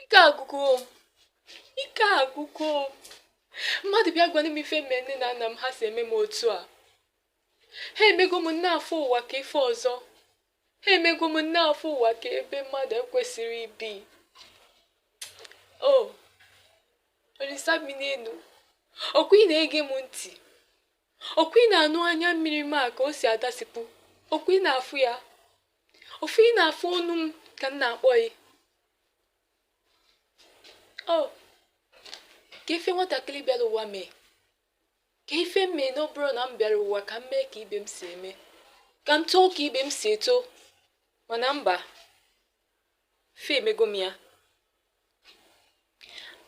ike agwụgo ike agwụgo mmadụ bịa gwanụ m ife m me nne na nna m ha si eme m otu a ha emego m na-afụ ụwa ka ife ọzọ ha emego m na-afụ ụwa ka ebe mmadụ ekwesịrị ibi o olisa bi n'enu ọkwa ị na-ege m ntị ọkwa ị na-anụ anya mmiri m a ka o si adasịpụ ọkwa ị na-afụ ya ofu ị na-afụ ọnụ m ka m na-akpọ gị o oh, ka ife nwatakịrị bịara ụwa mee ka ife m mee na ọ bụrọ na m bịara ụwa ka m mee ka ibe m si eme ka m too ka ibe m si eto mana mba fa emego m ya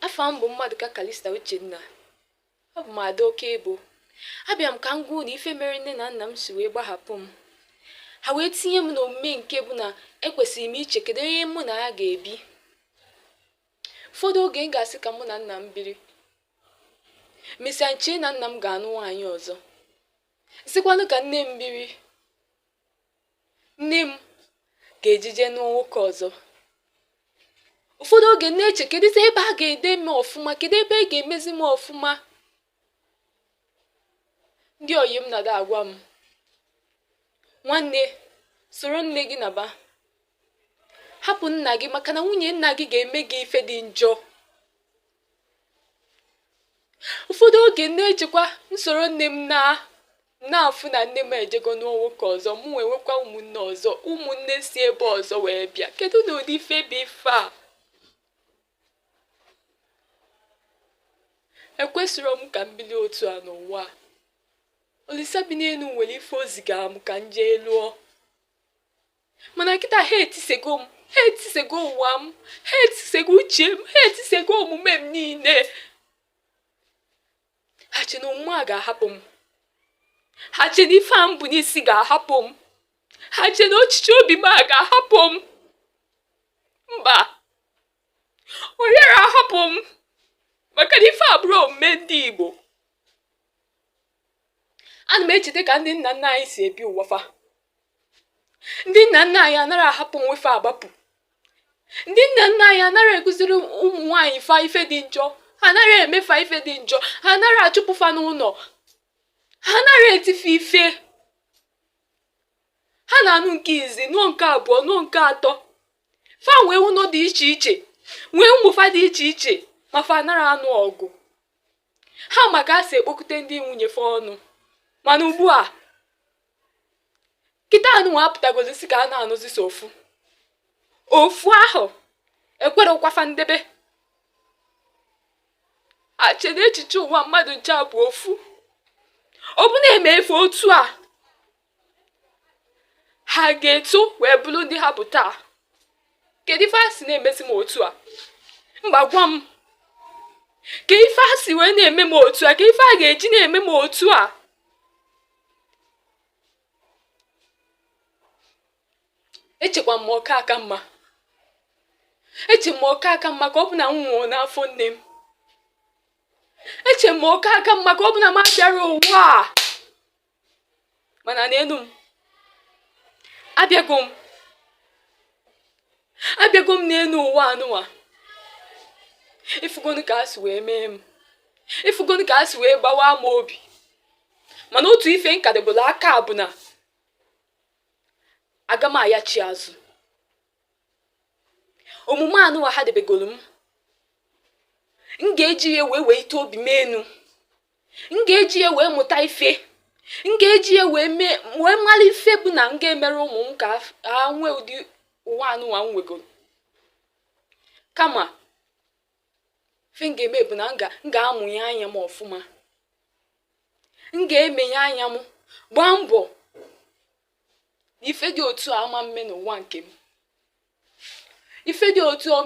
afa m bụ Mmadụka kalista uchenna abụ m ada oke ebo abịa m ka m gwa unu ife mere nne na nna m si wee gbahapụ m ha wee tinye m n'omume nke bụ na ekwesịrị m iche kedu onye mụ na ya ga-ebi ụfọdụ oge m ga-asị ka mụ na nna m biri mesịa m chee na nna m ga-anụ nwaanyị ọzọ sịkwanụ ka nne m biri nne m ga-ejije nụọ nwoke ọzọ ụfọdụ oge m na-eche kedụzi ebe a ga-ede m ọfụma kedu ebe a ga-emezi m ọfụma ndị ọyị m na-ada agwa m nwanne soro nne gị naba hapụ nna gị maka na nwunye nna gị ga-eme gị ife dị njọ ụfọdụ oge m na-echekwa m soro nne m naa na-afụ na nne m ejego nụọ nwoke ọzọ mụ wee nwekwa ụmụnne ọzọ ụmụnne si ebe ọzọ wee bịa kedu na ụdị ife bụ ife a ekwesịrọ m ka m bili otu a n'ụwa. olisa bi n'enu nwere ife o zigara m ka m jee lụọ mana kịta ha etisego m ha etisego ụwa m ha etisego uche m ha etisego omume m niile ha che na omume a ga-ahapụ m ha che na ife a m bu n'isi ga-ahapụ m ha che na ochiche obi m a ga-ahapụ m mba ọ yara ahapụ m maka na ife a abụrọ omume ndị Igbo ana m echeta ka ndị nna nna anyị si ebi ụwa fa ndị nna nna anyị anara ahapụ nwa fa agbapụ ndị nna nna anyị anara akụziri ụmụ nwaanyị fa ife dị njọ ha anara eme fa ife dị njọ ha anara achụpụ fa n'ụnọ ha anara eti fa ife ha na-anụ nke izi nụọ nke abụọ nụọ nke atọ fa nwee ụnọ dị iche iche nwee ụmụ fa dị iche iche ma fa anara anụ ọgụ ha ma ka e si ekpokọta ndị nwunye fa ọnụ mana ugbu a kịta anụnwa apụtagozi si ka a na-anụzi so ofu ofu ahụ ekwerọkwa fa ndebe ache na echiche ụwa mmadụ nche bụ ofu ọ bụ na-eme ife otu a ha ga-eto wee bụrụ ndị ha bụ taa kedu ife a si na-emezi m otu a mba gwa m ka ife a si wee na-eme m otu a ka ife a ga-eji na-eme m otu a echekwa m ọ ka aka mma eche m ọ ka aka mma ka ọ bụ na m nwụrụ n'afọ nne m eche m ọ ka aka mma ka ọ bụ na m abịarọ ụwa a mana neenu m abịago m abịago m n'enu ụwa anụwa ifugonu ka a si wee mee m ifugonu ka a si wee gbawa m obi mana otu ife nkadebolo aka bụ na aga m ayachi azụ omume anụwa ha debegoro m m ga-eji ya wee wenite obi m enu m ga-eji ya wee mụta ife m ga-eji ya wee mee wee mara ife bụ na m ga-emere ụmụ m ka ha nwee ụdị ụwa anụnwa m nwegoro kama ife m ga-eme bụ na m ga- m ga-amụnye anya m ọfụma m ga-emenye anya m gbaa mbọ na ife dị otu a ama mme n'ụwa nke m ife dị otu a o mee